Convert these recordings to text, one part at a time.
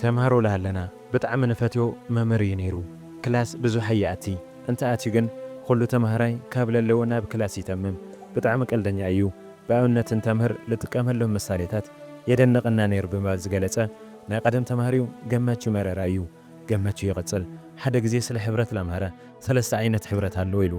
ተምሃሮ ላሃለና ብጣዕሚ ንፈትዮ መምህር እዩ ነይሩ ክላስ ብዙሕ ኣይኣቲ እንተ ኣትዩ ግን ኹሉ ተምሃራይ ካብ ለለዎ ናብ ክላስ ይተምም ብጣዕሚ ቀልደኛ እዩ ብኣብነት እንተምህር ልጥቀመሎም ምሳሌታት የደንቀና ነይሩ ብምባል ዝገለፀ ናይ ቀደም ተምሃሪው ገመቹ መረራ እዩ ገመቹ ይቅፅል ሓደ ግዜ ስለ ሕብረት ላምሃረ ሰለስተ ዓይነት ሕብረት ኣሎ ኢሉ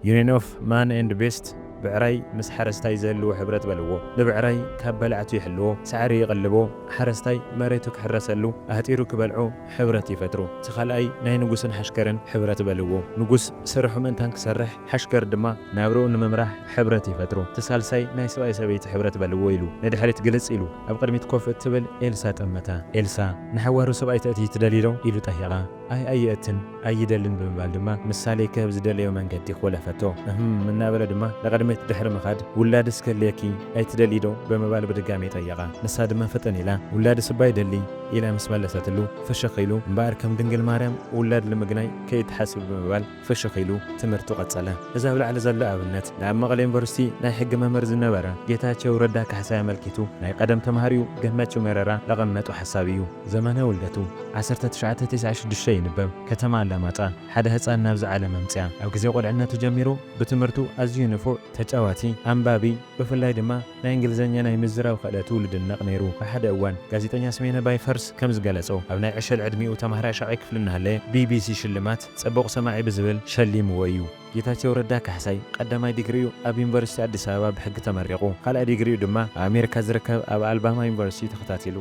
ዩኒየን ኦፍ ማን ኤንድ ቤስት ብዕራይ ምስ ሓረስታይ ዝህልዎ ሕብረት በልዎ። ንብዕራይ ካብ በላዕቱ ይሕልዎ፣ ሳዕሪ ይቕልቦ፣ ሓረስታይ መሬቱ ክሕረሰሉ ኣህጢሩ ክበልዖ ሕብረት ይፈጥሩ። እቲ ካልኣይ ናይ ንጉስን ሓሽከርን ሕብረት በልዎ። ንጉስ ስርሑ ምእንታን ክሰርሕ፣ ሓሽከር ድማ ናብርኡ ንምምራሕ ሕብረት ይፈጥሩ። እቲ ሳልሳይ ናይ ሰብኣይ ሰበይቲ ሕብረት በልዎ ኢሉ ንድሕሪት ግልጽ ኢሉ ኣብ ቅድሚት ኮፍ እትብል ኤልሳ ጠመታ። ኤልሳ፣ ንሓዋሩ ሰብኣይ ተእትዪ ትደልዪ ዶ? ኢሉ ጠይቓ። ኣይ ኣይእትን ኣይደልን ብምባል ድማ ምሳሌ ክህብ ዝደለዮ መንገዲ ኾለፈቶ። እህም እናበለ ድማ ንቕድሚት ድሕሪ ምኻድ ውላድስ ክህልየኪ ኣይትደልዪ ዶ? ብምባል ብድጋሜ ጠየቓ። ንሳ ድማ ፍጥን ኢላ ውላድስ እባ ይደሊ ኢላ ምስ መለሰትሉ ፍሽኽ ኢሉ እምበኣር ከም ድንግል ማርያም ውላድ ልምግናይ ከይትሓስቢ ብምባል ፍሽኽ ኢሉ ትምህርቱ ቀጸለ። እዚ ኣብ ላዕሊ ዘሎ ኣብነት ንኣብ መቐለ ዩኒቨርሲቲ ናይ ሕጊ መምህር ዝነበረ ጌታቸው ረዳ ካሕሳይ ኣመልኪቱ ናይ ቀደም ተማሃሪኡ ገመቹ መረራ ለቐመጦ ሓሳብ እዩ። ዘመነ ውልደቱ ዓሰርተ ትሽዓተ ቴስዓ ሽዱሽተ ይንበብ ከተማ ኣላማጣ ሓደ ህጻን ናብዚ ዓለም ኣምጽኣ። ኣብ ግዜ ቁልዕነቱ ጀሚሩ ብትምህርቱ ኣዝዩ ንፉዕ፣ ተጫዋቲ፣ ኣንባቢ ብፍላይ ድማ ናይ እንግሊዘኛ ናይ ምዝራብ ክእለቱ ልድነቕ ነይሩ። ኣብ ሓደ እዋን ጋዜጠኛ ስሜነ ባይፈርስ ከምዝገለጾ ኣብ ናይ ዕሸል ዕድሚኡ ተማሃራይ ሻዕይ ክፍሊ እናሃለየ ቢቢሲ ሽልማት ጽቡቕ ሰማዒ ብዝብል ሸሊምዎ እዩ። ጌታቸው ረዳ ካሕሳይ ቀዳማይ ዲግሪኡ ኣብ ዩኒቨርሲቲ ኣዲስ ኣበባ ብሕጊ ተመሪቑ። ካልኣይ ዲግሪኡ ድማ ኣብ ኣሜሪካ ዝርከብ ኣብ ኣልባማ ዩኒቨርሲቲ እዩ ተኸታቲሉ።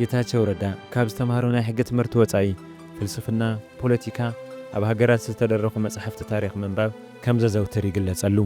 ጌታቸው ረዳ ካብ ዝተምሃሮ ናይ ሕጊ ትምህርቲ ወጻኢ፣ ፍልስፍና፣ ፖለቲካ፣ ኣብ ሃገራት ዝተደረኹ መጻሕፍቲ ታሪኽ ምንባብ ከም ዘዘውትር ይግለጸሉ።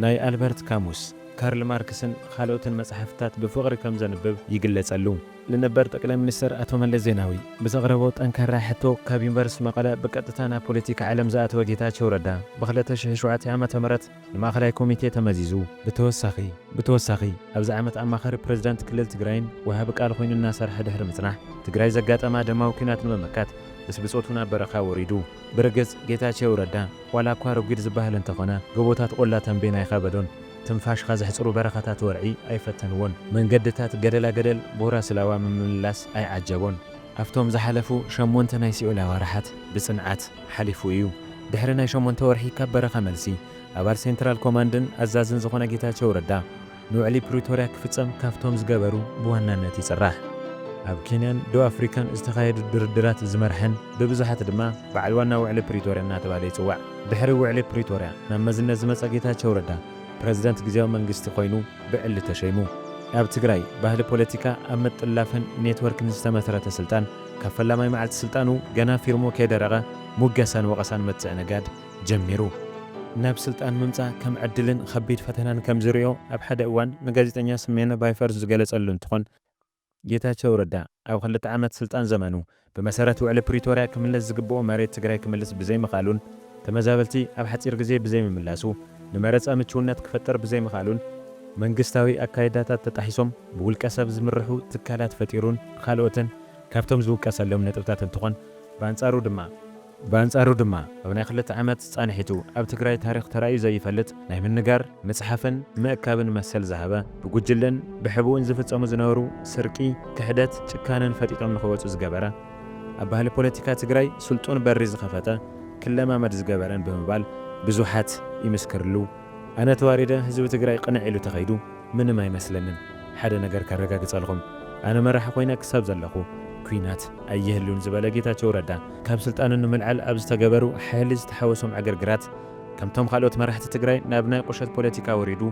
ናይ ኣልበርት ካሙስ፣ ካርል ማርክስን ኻልኦትን መጻሕፍትታት ብፍቕሪ ከም ዘንብብ ይግለጸሉ። ንነበር ጠቅላይ ሚኒስተር ኣቶ መለስ ዜናዊ ብዘቕረቦ ጠንካራ ሕቶ ካብ ዩኒቨርስቲ መቐለ ብቀጥታ ናብ ፖለቲካ ዓለም ዝኣተወ ጌታቸው ረዳ ብ ክልተ ሽሕን ሸውዓተን ዓመተ ምህረት ንማእኸላይ ኮሚቴ ተመዚዙ ብተወሳኺ ብተወሳኺ ኣብዚ ዓመት ኣማኻሪ ፕረዚዳንት ክልል ትግራይን ወሃቢ ቃል ኾይኑ እናሰርሐ ድሕሪ ምፅናሕ ትግራይ ዘጋጠማ ደማዊ ኲናት ንምምካት ምስ ብፆቱ ናብ በረኻ ወሪዱ ብርግጽ ጌታቸው ረዳ ዋላ እኳ ረጒድ ዝበሃል እንተኾነ ጎቦታት ቆላ ተምቤን ኣይኸበዶን፣ ትንፋሽኻ ዘሕጽሩ በረኻታት ወርዒ ኣይፈተንዎን፣ መንገድታት ገደላ ገደል ቦራ ስላዋ ምምልላስ ኣይዓጀቦን። ኣብቶም ዝሓለፉ ሸሞንተ ናይ ሲኦል ኣዋርሓት ብጽንዓት ሓሊፉ እዩ። ድሕሪ ናይ ሸሞንተ ወርሒ ካብ በረኻ መልሲ፣ ኣባል ሴንትራል ኮማንድን ኣዛዝን ዝኾነ ጌታቸው ረዳ፣ ንውዕሊ ፕሪቶርያ ክፍጸም ካብቶም ዝገበሩ ብዋናነት ይጽራሕ። ኣብ ኬንያን ደቡብ ኣፍሪካን ዝተኻየዱ ድርድራት ዝመርሐን ብብዙሓት ድማ በዓል ዋና ውዕሊ ፕሪቶርያ እናተብሃለ ይጽዋዕ። ድሕሪ ውዕሊ ፕሪቶርያ ናብ መዝነት ዝመጸ ጌታቸው ረዳ ፕረዚደንት ግዝያዊ መንግስቲ ኮይኑ ብዕሊ ተሸይሙ። ኣብ ትግራይ ባህሊ ፖለቲካ ኣብ ምጥላፍን ኔትወርክን ዝተመስረተ ስልጣን ካብ ፈላማይ መዓልቲ ስልጣኑ ገና ፊርሙ ከይደረቐ ሙገሳን ወቐሳን መትጽዒ ነጋድ ጀሚሩ ናብ ስልጣን ምምጻእ ከም ዕድልን ኸቢድ ፈተናን ከም ዝሪኦ ኣብ ሓደ እዋን ንጋዜጠኛ ስሜነ ባይፈርስ ዝገለጸሉ እንትኾን ጌታቸው ረዳ ኣብ ኽልተ ዓመት ስልጣን ዘመኑ ብመሰረት ውዕሊ ፕሪቶርያ ክምለስ ዝግብኦ መሬት ትግራይ ክምልስ ብዘይምኽኣሉን ተመዛበልቲ ኣብ ሓፂር ግዜ ብዘይምምላሱ ንመረፃ ምችውነት ክፈጥር ብዘይምኽኣሉን መንግስታዊ ኣካይዳታት ተጣሒሶም ብውልቀ ሰብ ዝምርሑ ትካላት ፈጢሩን ኻልኦትን ካብቶም ዝውቀሰሎም ነጥብታት እንትኾን ብኣንፃሩ ድማ ብኣንጻሩ ድማ ኣብ ናይ ክልተ ዓመት ጻንሒቱ ኣብ ትግራይ ታሪኽ ተራእዩ ዘይፈልጥ ናይ ምንጋር፣ ምጽሓፍን ምእካብን መሰል ዝሃበ፣ ብጉጅለን ብሕቡእን ዝፍጸሙ ዝነበሩ ስርቂ፣ ክሕደት፣ ጭካነን ፈጢጦም ንኽወጹ ዝገበረ፣ ኣብ ባህሊ ፖለቲካ ትግራይ ስልጡን በሪ ዝኸፈተ፣ ክለማመድ ዝገበረን ብምባል ብዙሓት ይምስክርሉ። ኣነ ተዋሪደ ህዝቢ ትግራይ ቅንዕ ኢሉ ተኸይዱ። ምንም ኣይመስለንን ሓደ ነገር ከረጋግፀልኹም ኣነ መራሒ ኮይነ ክሳብ ዘለኹ ኩናት ኣይህሉን ዝበለ ጌታቸው ረዳ ካብ ስልጣኑ ንምልዓል ኣብ ዝተገበሩ ሓይሊ ዝተሓወሶም ዕግርግራት ከምቶም ኻልኦት መራሕቲ ትግራይ ናብ ናይ ቁሸት ፖለቲካ ወሪዱ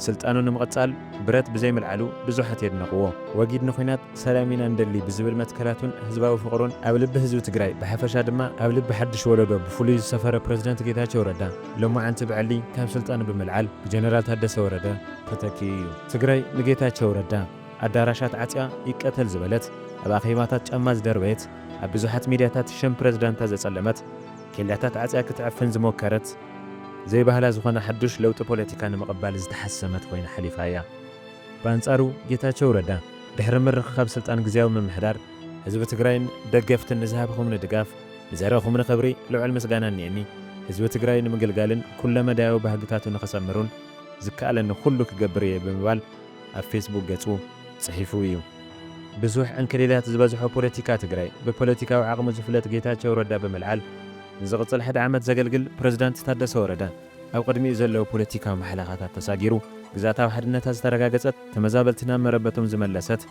ስልጣኑ ንምቕፃል ብረት ብዘይምልዓሉ ብዙሓት የድነቕዎ። ወጊድ ንኩናት ሰላም ኢና ንደሊ ብዝብል መትከላቱን ህዝባዊ ፍቕሩን ኣብ ልቢ ህዝቢ ትግራይ ብሓፈሻ ድማ ኣብ ልቢ ሓዱሽ ወለዶ ብፍሉይ ዝሰፈረ ፕረዚደንት ጌታቸው ረዳ፣ ሎማዓንቲ ብዕሊ ካብ ስልጣኑ ብምልዓል ብጀነራል ታደሰ ወረደ ተተኪኡ እዩ። ትግራይ ንጌታቸው ረዳ ኣዳራሻት ዓፅያ ይቀተል ዝበለት፣ ኣብ ኣኼባታት ጫማ ዝደርበየት፣ ኣብ ብዙሓት ሚድያታት ሸም ፕረዚዳንታ ዘፀለመት፣ ኬላታት ዓፅያ ክትዕፍን ዝሞከረት፣ ዘይባህላ ዝኾነ ሓዱሽ ለውጢ ፖለቲካ ንምቕባል ዝተሓሰመት ኮይና ሓሊፋ እያ። ብኣንፃሩ ጌታቸው ረዳ ድሕሪ ምርኽኻብ ስልጣን ግዝያዊ ምምሕዳር ህዝቢ ትግራይን ደገፍትን ንዝሃብኹምኒ ድጋፍ፣ ንዘረኹምኒ ክብሪ ልዑል ምስጋና እኒኤኒ። ህዝቢ ትግራይ ንምግልጋልን ኩለመዳያዊ ባህግታቱ ንኽሰምሩን ዝከኣለኒ ኩሉ ክገብር እየ ብምባል ኣብ ፌስቡክ ገፁ ፅሒፉ እዩ። ብዙሕ ዕንክሊላት ዝበዝሖ ፖለቲካ ትግራይ ብፖለቲካዊ ዓቕሙ ዝፍለጥ ጌታቸው ረዳ ብምልዓል ንዝቕፅል ሓደ ዓመት ዘገልግል ፕረዚዳንት ታደሰ ወረደ ኣብ ቕድሚኡ ዘለዉ ፖለቲካዊ ማሕለኻታት ተሳጊሩ ግዝኣታዊ ሓድነታ ዝተረጋገፀት ተመዛበልቲ ናብ መረበቶም ዝመለሰት